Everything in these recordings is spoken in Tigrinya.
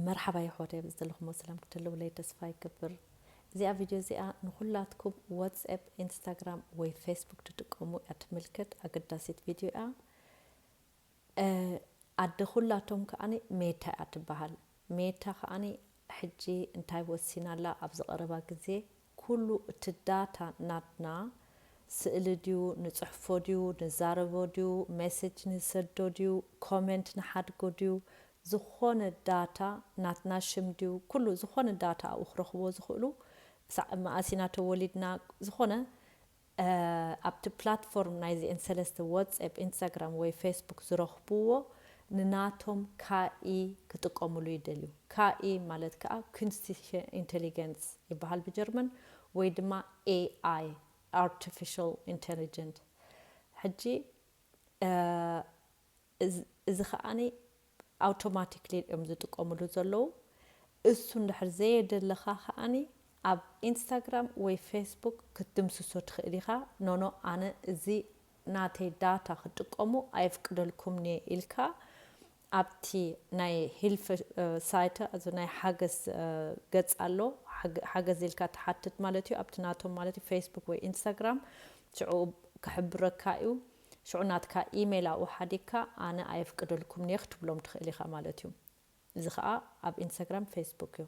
መርሓባ የሕዋተይ ኣብዚ ዘለኹሞ ሰላም ክትህልውለይ ተስፋ ይገብር እዚኣ ቪድዮ እዚኣ ንኹላትኩም ዋትስኣፕ ኢንስታግራም ወይ ፌስቡክ ትጥቀሙ እያ ትምልከት ኣገዳሲት ቪድዮ እያ ኣደ ኩላቶም ከዓኒ ሜታ እያ ትበሃል ሜታ ከዓኒ ሕጂ እንታይ ወሲና ኣላ ኣብዚ ቀረባ ግዜ ኩሉ እቲ ዳታ ናትና፣ ስእሊ ድዩ፣ ንጽሕፎ ድዩ፣ ንዛረቦ ድዩ፣ ሜሴጅ ንሰዶ ድዩ፣ ኮሜንት ንሓድጎ ድዩ፣ ዝኾነ ዳታ ናትና ሽም ድዩ፣ ኩሉ ዝኾነ ዳታ ኣብኡ ክረኽብዎ ዝኽእሉ፣ ክሳዕ መኣስ ኢና ተወሊድና፣ ዝኾነ ኣብቲ ፕላትፎርም ናይዚኤን ሰለስተ ወትስኣፕ ኢንስታግራም ወይ ፌስቡክ ዝረኽቡዎ ንናቶም ካኢ ክጥቀሙሉ ይደልዩ። ካኢ ማለት ከኣ ኩንስቲሸ ኢንተሊገንስ ይበሃል ብጀርመን ወይ ድማ AI፣ ኣርተፊሸል ኢንተሊጀንት። ሕጂ። እዚ ከኣ ኣውቶማቲክሊ እዮም ዝጥቀምሉ ዘለዉ እሱ እንድሕር ዘየደለኻ ከኣ ኣብ ኢንስታግራም ወይ ፌስቡክ ክትድምስሶ ትኽእል ኢኻ ኖኖ ኣነ እዚ ናተይ ዳታ ክትጥቀሙ ኣየፍቅደልኩምንየ ኢልካ ኣብቲ ናይ ሂልፍ ሳይተ እዚ ናይ ሓገዝ ገጽ ኣሎ ሓገዝ ኢልካ ትሓትት ማለት እዩ ኣብቲ ናቶም ማለት እዩ ፌስቡክ ወይ ኢንስታግራም ሽዑ ክሕብረካ እዩ ሽዑ ናትካ ኢመይል ኣብኡ ሓዲግካ ኣነ ኣየፍቅደልኩምን'የ ክትብሎም ትኽእል ኢኻ ማለት'ዩ። እዚ ኸኣ ኣብ ኢንስታግራም ፌስቡክ'ዩ።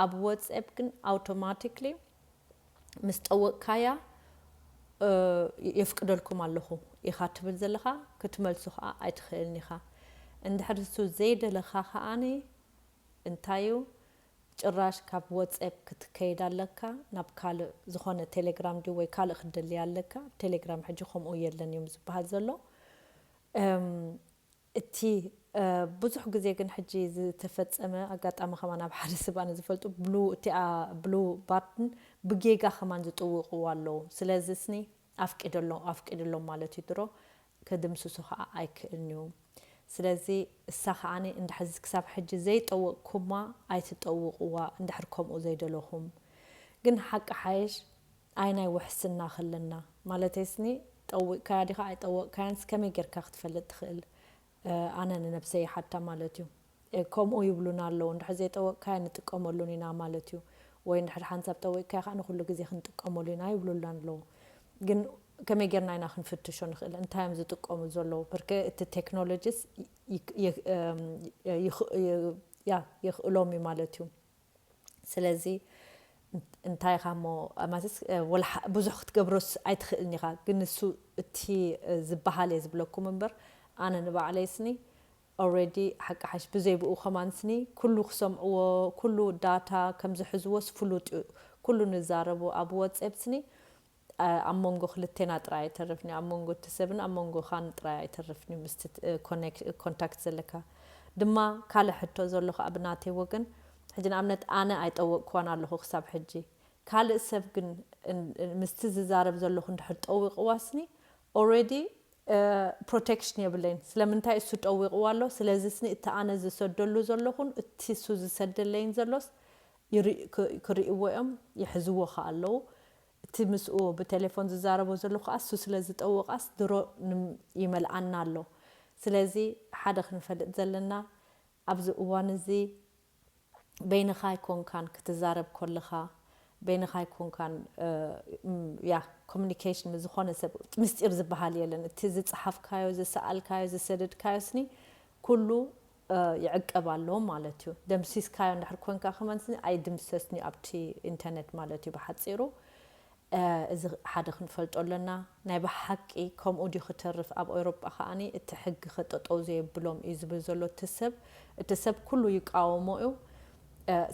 ኣብ ወትስኣፕ ግን ኣውቶማቲክሊ ምስ ጠወቕካያ የፍቅደልኩም ኣለኹ ኢኻ ትብል ዘለኻ፣ ክትመልሶ ኸኣ ኣይትኽእልን ኢኻ። እንድሕር ንሱ ዘይደለኻ ኸኣ እንታይ'ዩ ጭራሽ ካብ ወጼፕ ክትከይድ ኣለካ ናብ ካልእ ዝኮነ ቴሌግራም ድዩ ወይ ካልእ ክትደሊ ኣለካ ኣብ ቴሌግራም ሕጂ ከምኡ የለን እዩ ዝብሃል ዘሎ እም እቲ ብዙሕ ግዜ ግን ሕጂ ዝተፈጸመ ኣጋጣሚ ከማን ኣብ ሓደ ሰብ ኣነ ዝፈልጡ ብሉ እቲኣ ብሉ ባትን ብጌጋ ከማን ዝጥውቅዋ ኣለዉ ስለዚ ስኒ ኣፍቂደሎም ኣፍቂድሎም ማለት እዩ ድሮ ክድምስሶ ከኣ ኣይክእልን እዩ ስለዚ እሳ ከኣ እንድሕር ክሳብ ሕጂ ዘይጠወቅኩማ ኣይትጠውቅዋ እንድሕር ከምኡ ዘይደለኹም ግን ሓቂ ሓይሽ ኣይ ናይ ውሕስና ከለና ማለተይስኒ ጠዊቅካያ ዲኻ ኣይጠወቅካያንስ ከመይ ጌርካ ክትፈልጥ ትኽእል ኣነ ንነብሰይ ይሓታ ማለት እዩ። ከምኡ ይብሉና ኣለዉ እንድሕር ዘይጠወቕካያ ንጥቀመሉን ኢና ማለት እዩ ወይ እንድሕር ሓንሳብ ጠዊቕካያ ከኣ ንኹሉ ግዜ ክንጥቀመሉ ኢና ይብሉልና ኣለዉ ግን ከመይ ጌርና ኢና ክንፍትሾ ንኽእል እንታይ እዮም ዝጥቀሙ ዘለዉ ብርክ እቲ ቴክኖሎጂስ ይኽእሎም እዩ ማለት እዩ። ስለዚ እንታይ ኢኻ እሞ ማለት ብዙሕ ክትገብሮስ ኣይትኽእልን ኢኻ ግን ንሱ እቲ ዝበሃል እየ ዝብለኩም እምበር ኣነ ንባዕለይ ስኒ ኦልሬዲ ሓቂ ሓሽ ብዘይ ብኡ ከማን ስኒ ኩሉ ክሰምዕዎ ኩሉ ዳታ ከም ዝሕዝዎስ ፍሉጥ እዩ ኩሉ ንዛረቡ ኣብ ወጼብ ስኒ ኣብ ሞንጎ ክልቴና ጥራይ ኣይተርፍን'ዩ፣ ኣብ ሞንጎ እቲ ሰብን ኣብ ሞንጎኻን ጥራይ ኣይተርፍን'ዩ፣ ምስቲ ኮንታክት ዘለካ ድማ ካልእ ሕቶ ዘሎ ከኣ ብናተይ ወገን ሕጂ ንኣብነት ኣነ ኣይጠወቅክዋን ኣለኹ ክሳብ ሕጂ ካልእ ሰብ ግን ምስቲ ዝዛረብ ዘለኹ እንድሕር ጠዊቅዋስኒ ኦሬዲ ፕሮቴክሽን የብለይን ስለምንታይ እሱ ጠዊቅዋ ኣሎ ስለዚስኒ እቲ ኣነ ዝሰደሉ ዘለኹን እቲ እሱ ዝሰደለይን ዘሎስ ክሪእዎ እዮም ይሕዝዎ ከኣ ኣለዉ እቲ ምስኡ ብቴሌፎን ዝዛረቦ ዘሎ ከኣ እሱ ስለ ዝጠወቃስ ድሮ ይመልኣና ኣሎ ስለዚ ሓደ ክንፈልጥ ዘለና ኣብዚ እዋን እዚ በይንኻ ኣይኮንካን ክትዛረብ ኮለኻ በይንኻ ኣይኮንካን ያህ ኮሙኒኬሽን ምስ ዝኾነ ሰብ ምስጢር ዝበሃል የለን እቲ ዝጸሓፍካዮ ዝሰኣልካዮ ዝሰደድካዮስኒ ኩሉ ይዕቀብ ኣሎ ማለት እዩ ደምሲስካዮ እንድሕር ኮንካ ከማን ኣይድምሰስን እዩ ኣብቲ ኢንተርነት ማለት እዩ ብሓጺሩ እዚ ሓደ ክንፈልጦ ኣለና ናይ ብሓቂ ከምኡ ድዩ ክተርፍ ኣብ ኦይሮጳ ከኣ እቲ ሕጊ ከ ጠጠው ዘየብሎም እዩ ዝብል ዘሎ እቲ ሰብ እቲ ሰብ ኩሉ ይቃወሞ እዩ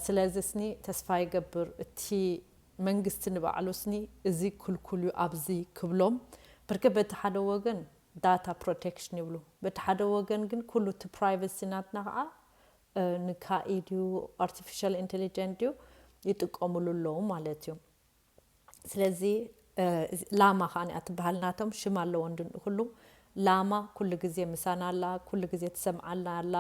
ስለዚ ስኒ ተስፋ ይገብር እቲ መንግስቲ ንባዕሉ ስኒ እዚ ክልኩል እዩ ኣብዚ ክብሎም ብርክ በቲ ሓደ ወገን ዳታ ፕሮቴክሽን ይብሉ በቲ ሓደ ወገን ግን ኩሉ እቲ ፕራይቨሲ ናትና ከዓ ንካኢ ድዩ ኣርቲፊሻል ኢንተሊጀንት ድዩ ይጥቀምሉ ኣለዉ ማለት እዩ ስለዚ ላማ ከዓ እያ ትበሃል ናቶም ሽም ኣለዎ እንድንኡ ኩሉ ላማ ኩሉ ግዜ ምሳና ኣላ ኩሉ ግዜ ትሰምዓልና ኣላ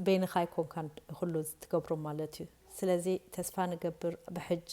በይንኻ ኣይኮንካን ኩሉ ዝትገብሮ ማለት እዩ ስለዚ ተስፋ ንገብር ብሕጂ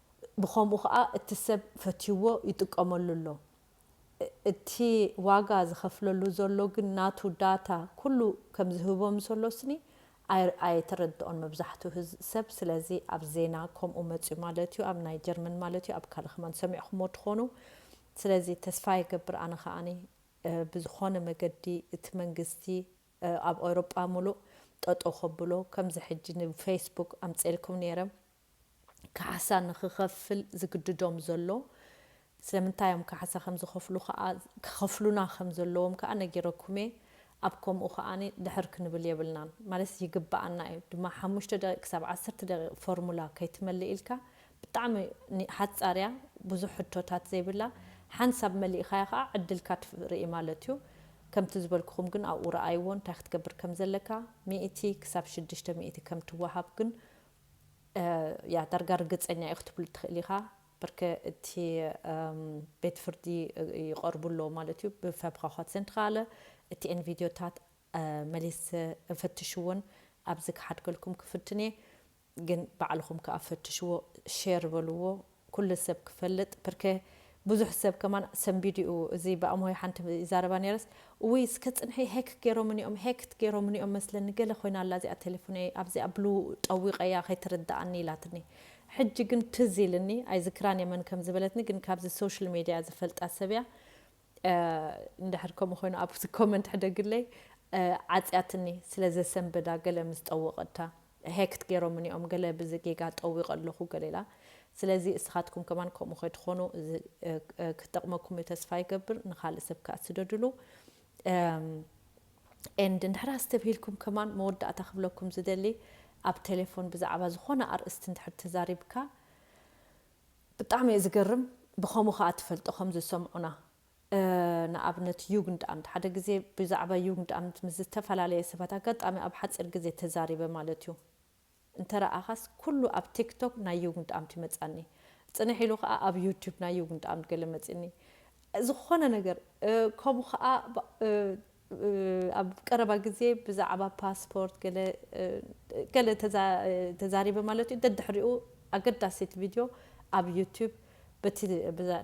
ብኸምኡ ከኣ እቲ ሰብ ፈትዩዎ ይጥቀመሉ ኣሎ። እቲ ዋጋ ዝኸፍለሉ ዘሎ ግን ናቱ ዳታ ኩሉ ከም ዝህቦ ምስ ኣሎስኒ ኣየተረድኦን መብዛሕቱ ሰብ ስለዚ ኣብ ዜና ከምኡ መጽዩ ማለት እዩ ኣብ ናይ ጀርመን ማለት እዩ ኣብ ካልእ ከማን ሰሚዕኩሞ ትኾኑ ስለዚ ተስፋ ይገብር ኣነ ከኣ ብዝኾነ መገዲ እቲ መንግስቲ ኣብ ኤውሮጳ ምሉእ ጠጠው ከብሎ ከምዚ ሕጂ ንፈይስቡክ ኣምጼልኩም ኔረ ካሕሳ ንኽኸፍል ዝግድዶም ዘሎ፣ ስለምንታይ እዮም ካሕሳ ከም ዝኸፍሉ ከኣ ክኸፍሉና ከም ዘለዎም ከኣ ነጊረኩም'የ፣ ኣብ ከምኡ ከኣ ድሕር ክንብል የብልናን፣ ማለትስ ይግበኣና እዩ፣ ድማ ሓሙሽተ ደቂቅ ክሳብ ዓሰርተ ደቂቅ ፎርሙላ ከይትመልእ ኢልካ ብጣዕሚ ሓጻር እያ፣ ብዙሕ ሕቶታት ዘይብላ፣ ሓንሳብ መሊእኻያ ከኣ ዕድልካ ትርኢ ማለት እዩ፣ ከምቲ ዝበልኩኹም ግን ኣብኡ ረኣይዎ እንታይ ክትገብር ከም ዘለካ፣ ሚእቲ ክሳብ ሽዱሽተ ሚእቲ ከም ትወሃብ ግን እያ ዳርጋ ርግጸኛ እየ ክትብሉ ትክእል ኢካ ብርክ እቲ ቤት ፍርዲ ይቀርቡ ኣለዉ ማለት እዩ ብፈብካኳት ዘንትካለ እቲ ኤን ቪድዮታት መሊስ እንፈትሽ እውን ኣብዚ ክሓድገልኩም ክፍትን እየ ግን ባዕልኩም ከኣ ፈትሽዎ ሼር በልዎ ኩሉ ሰብ ክፈልጥ ብርከ ብዙሕ ሰብ ከማን ሰንቢዱ እዩ እዚ ብኣምሆይ ሓንቲ ይዛረባ ነይረስ እውይ እስከ ጽንሒ ሀክ ገይሮምኒ እዮም ሀክት ገይሮምኒ እዮም መስለኒ ገለ ኮይና ኣላ እዚኣ ቴሌፎነይ ኣብዚኣ ብሉ ጠዊቀያ ከይትርደኣኒ ኢላትኒ ሕጂ ግን ትዝ ኢልኒ ኣይዝክራን እየ መን ከም ዝበለትኒ ግን ካብዚ ሶሽል ሜድያ ዝፈልጣ ሰብ እያ እንድሕር ከምኡ ኮይኑ ኣብቲ ኮመንት ሕደግለይ። ዓጽያትኒ ስለ ዘሰንበዳ ገለ ምስ ጠወቀታ ሀክት ጌሮምኒ ኦም ገለ ብዚ ጌጋ ጠዊቀ ኣለኩ ገለ ኢላ ስለዚ እስካትኩም ከማን ከምኡ ከይትኮኑ እዚ ክጠቅመኩም እዩ ተስፋ ይገብር ንካልእ ሰብ ከኣ ስደድሉ and እንድሕር ኣስተብሂልኩም ከማን መወዳእታ ክብለኩም ዝደሊ ኣብ ቴሌፎን ብዛዕባ ዝኮነ ኣርእስቲ እንድሕር ተዛሪብካ ብጣዕሚ እየ ዝገርም ብከሙ ከኣ ትፈልጦ ከም ዝሰምዑና ንኣብነት ዩግንድኣምት ሓደ ግዜ ብዛዕባ ዩግንድኣምት ምስ ዝተፈላለየ ሰባት ኣጋጣሚ ኣብ ሓጺር ግዜ ተዛሪበ ማለት እዩ እንተ ረኣኻስ ኩሉ ኣብ ቲክቶክ ናይ ዩግንድኣምት ይመጻኒ ጽንሕ ኢሉ ከኣ ኣብ ዩቱብ ናይ ዩግንድኣምት ገለ መጺኒ ዝኾነ ነገር ከሙ ከኣ ኣብ ቀረባ ግዜ ብዛዕባ ፓስፖርት ገለ ገለ ተዛሪበ ማለት እዩ፣ ደድሕሪኡ ኣገዳሲት ቪድዮ ኣብ ዩቱብ በቲ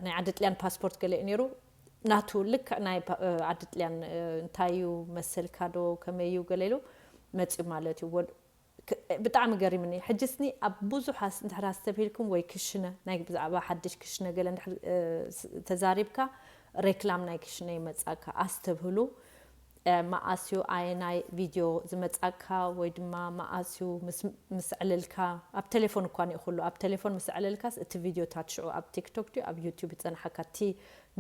ናይ ዓዲ ጥልያን ፓስፖርት ገለ እዩ ነይሩ፣ ናቱ ልክዕ ናይ ዓዲ ጥልያን እንታይ እዩ መሰልካ ዶ ከመይ እዩ ገለ ኢሉ መጺኡ ማለት እዩ። ብጣዕሚ ገሪምኒ ሕጂስኒ ኣብ ቡዙሕ ኣስ እንድሕር ኣስተብሂልኩም ወይ ክሽነ ናይ ብዛዕባ ሓድሽ ክሽነ ገለ እንድሕር ተዛሪብካ ሬክላም ናይ ክሽነ ይመጻካ ኣስተብህሉ መኣስዩ ኣየናይ ቪድዮ ዝመጻካ ወይ ድማ መኣስዩ ምስ ምስ ዕልልካ ኣብ ቴሌፎን እኳ ኒእኩሉ ኣብ ቴሌፎን ምስ ዕልልካስ እቲ ቪድዮታት ሽዑ ኣብ ቲክቶክ ድዩ ኣብ ዩቱብ ዝጸንሓካ እቲ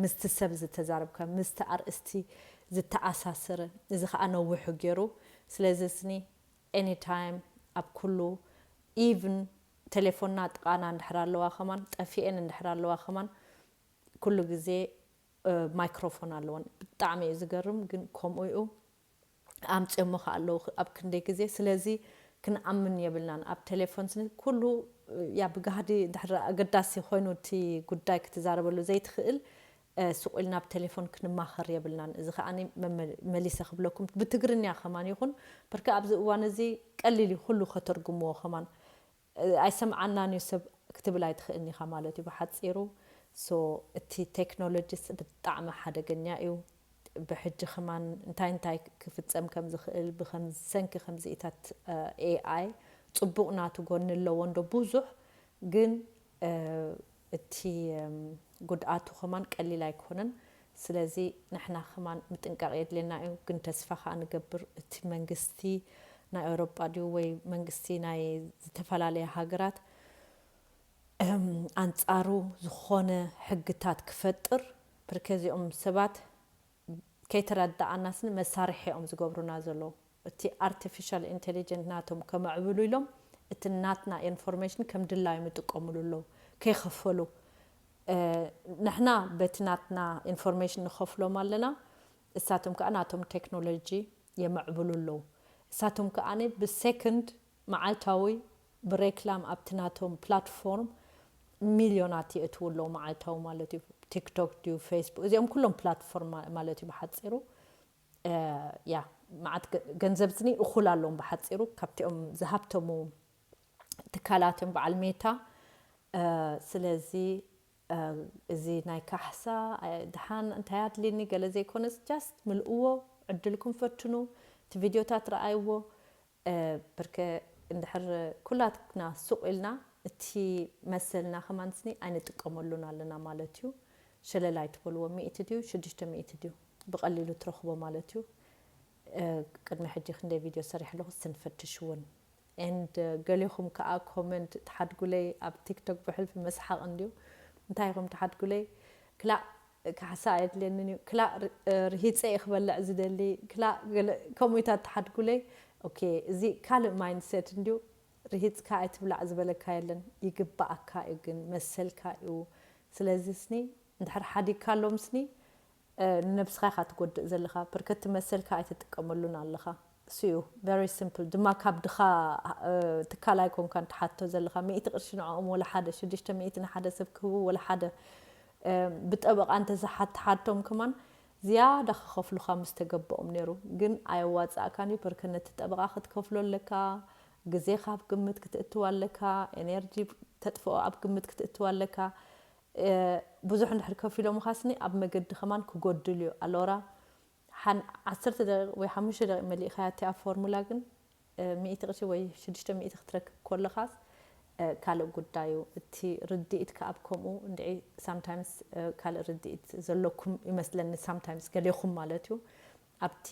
ምስቲ ሰብ ዝተዛረብካ ምስቲ ኣርእስቲ ዝተኣሳሰረ እዚ ከኣ ነዊሑ ጌሩ ስለዚስኒ ኤኒ ታይም ኣብ ኩሉ ኢቭን ቴሌፎና ጥቃና እንድሕር ኣለዋ ከማን ጠፊኤን እንድሕር ኣለዋ ከማን ኩሉ ግዜ ማይክሮፎን ኣለወን ብጣዕሚ እዩ ዝገርም ግን ከምኡ እዩ ኣምጽዮሞ ከኣ ኣለዉ ኣብ ክንደይ ግዜ ስለዚ ክንኣምን የብልናን ኣብ ቴሌፎን ስኒ ኩሉ ያ ብጋህዲ እንድሕር ኣገዳሲ ኮይኑ እቲ ጉዳይ ክትዛረበሉ ዘይትኽእል ሱቕ ኢልና ብ ቴሌፎን ክንማኸር የብልናን እዚ ከኣ መሊሰ ክብለኩም ብትግርኛ ከማን ይኹን ብርክ ኣብዚ እዋን እዚ ቀሊል እዩ ኩሉ ከተርጉምዎ ከማን ኣይሰምዓናን እዩ ሰብ ክትብል ኣይትኽእልን ኢኻ ማለት እዩ ብሓጺሩ so እቲ ቴክኖሎጂስ ብጣዕሚ ሓደገኛ እዩ ብሕጂ ከማን እንታይ እንታይ ክፍጸም ከም ዝኽእል ብሰንኪ ከምዚኢታት AI ጽቡቕ ናቱ ጎኒ ኣለዎ እንዶ ብዙሕ ግን እቲ ጉድኣቱ ከማን ቀሊል ኣይኮነን ስለዚ ንሕና ከማን ምጥንቃቅ የድልየና እዩ ግን ተስፋ ከኣ ንገብር እቲ መንግስቲ ናይ ኣውሮጳ ድዩ ወይ መንግስቲ ናይ ዝተፈላለያ ሃገራት ኣንጻሩ ዝኾነ ሕግታት ክፈጥር ብርከ እዚኦም ሰባት ከይተረዳኣናስኒ መሳርሒ እዮም ዝገብሩና ዘለዉ። እቲ ኣርተፊሻል ኢንተሊጀንት ናቶም ከመዕብሉ ኢሎም እቲ ናትና ኤንፎርሜሽን ከም ድላዮም ይጥቀምሉ ኣለዉ ከይከፈሉ ንሕና በቲ ናትና ኤንፎርሜሽን ንከፍሎም ኣለና እሳቶም ከኣ ናቶም ቴክኖሎጂ የመዕብሉ ኣለዉ እሳቶም ከኣ ብሰክንድ መዓልታዊ ብሬክላም ኣብቲ ናቶም ፕላትፎርም ሚልዮናት የእትዉ ኣለዉ መዓልታዊ ማለት እዩ ቲክቶክ ድዩ ፌስቡክ እዚኦም ኩሎም ፕላትፎርም ማለት እዩ ብሓጺሩ እያ መዓት ገንዘብዝኒ እኹል ኣሎዎም ብሓጺሩ ካብቲኦም ዝሃብተሙ ትካላት እዮም በዓል ሜታ ስለዚ እዚ ናይ ካሕሳ ድሓን እንታይ ኣድልኒ ገለ ዘይኮነስ ጃስት ምልእዎ ዕድልኩም ፈትኑ እቲ ቪድዮታት ረኣይዎ ብርከ እንድሕር ኩላትና ሱቕ ኢልና እቲ መሰልና ከማንስኒ ኣይንጥቀመሉን ኣለና ማለት እዩ። ሸለል ኣይትበልዎ ሚእቲ ድዩ ሽዱሽተ ሚእቲ ድዩ ብቐሊሉ ትረኽቦ ማለት እዩ። ቅድሚ ሕጂ ክንደይ ቪድዮ ሰሪሐ ኣለኹ እስቲ ንፈትሽ እውን። and ገሌኹም ከኣ ኮመንት ትሓድጉለይ ኣብ ቲክቶክ ብሕልፊ መስሓቕ እንድዩ እንታይ ኢኹም ትሓድጉለይ ክላእ ካሕሳ ኣየድልየንን እዩ ክላእ ርሂጸ እየ ክበልዕ ዝደሊ ክላእ ገለ ከምኡ ኢታት ትሓድጉለይ ኦኬ እዚ ካልእ ማይንድ ሴት እንድዩ ርሂጽካ ኣይትብላዕ ዝበለካ የለን ይግባኣካ እዩ ግን መሰልካ እዩ ስለዚ ስኒ እንድሕር ሓዲግካሎም ስኒ ንነብስኻ ኢኻ ትጎድእ ዘለኻ ብርከቲ መሰልካ ኣይትጥቀመሉን ኣለኻ። እሱዩ very simple ድማ ካብ ድኻ ትካል ኣይኮንካን ትሓትቶ ዘለኻ ሚእቲ ቅርሺ ንዕኦም ወላ ሓደ ሽዱሽተ ሚእቲ ንሓደ ሰብ ክህቡ ወላ ሓደ ብጠበቓ እንተዝሓትሓቶም ከማን ዝያዳ ክኸፍሉኻ ምስ ተገበኦም ነይሩ ግን ኣየዋጽኣካን እዩ በርከ ነቲ ጠበቓ ክትከፍሎ ኣለካ ግዜኻ ኣብ ግምት ክትእትው ኣለካ ኤነርጂ ተጥፍኦ ኣብ ግምት ክትእትው ኣለካ ብዙሕ እንድሕር ከፊሎምኻስኒ ኣብ መገዲ ከማን ክጎድል እዩ ኣሎራ ሓን ዓሰርተ ደቂቅ ወይ ሓሙሽተ ደቂቅ መሊእካያ እቲ ኣብ ፎርሙላ ግን ሚእቲ ቅርሺ ወይ ሽዱሽተ ሚእቲ ክትረክብ ኮለካስ ካልእ ጉዳይ እዩ እቲ ርዲኢት ክኣ ከምኡ እንድዒ ሳምታይምስ ካልእ ርዲኢት ዘለኩም ይመስለኒ ሳምታይምስ ገሌኩም ማለት እዩ ኣብቲ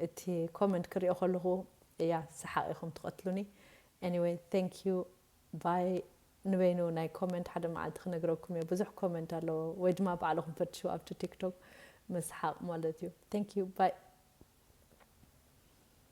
እቲ ኮመንት ክሪኦ ከለኩ እያ ሰሓቅ ኢኩም ትቀትሉኒ Anyway thank you ቫይ ንበይኑ ናይ ኮመንት ሓደ መዓልቲ ክነግረኩም እየ ብዙሕ ኮመንት ኣለዎ ወይ ድማ ባዕልኹም ፈትሽው ኣብቲ ቲክቶክ መስሓቅ ማለት እዩ thank you bye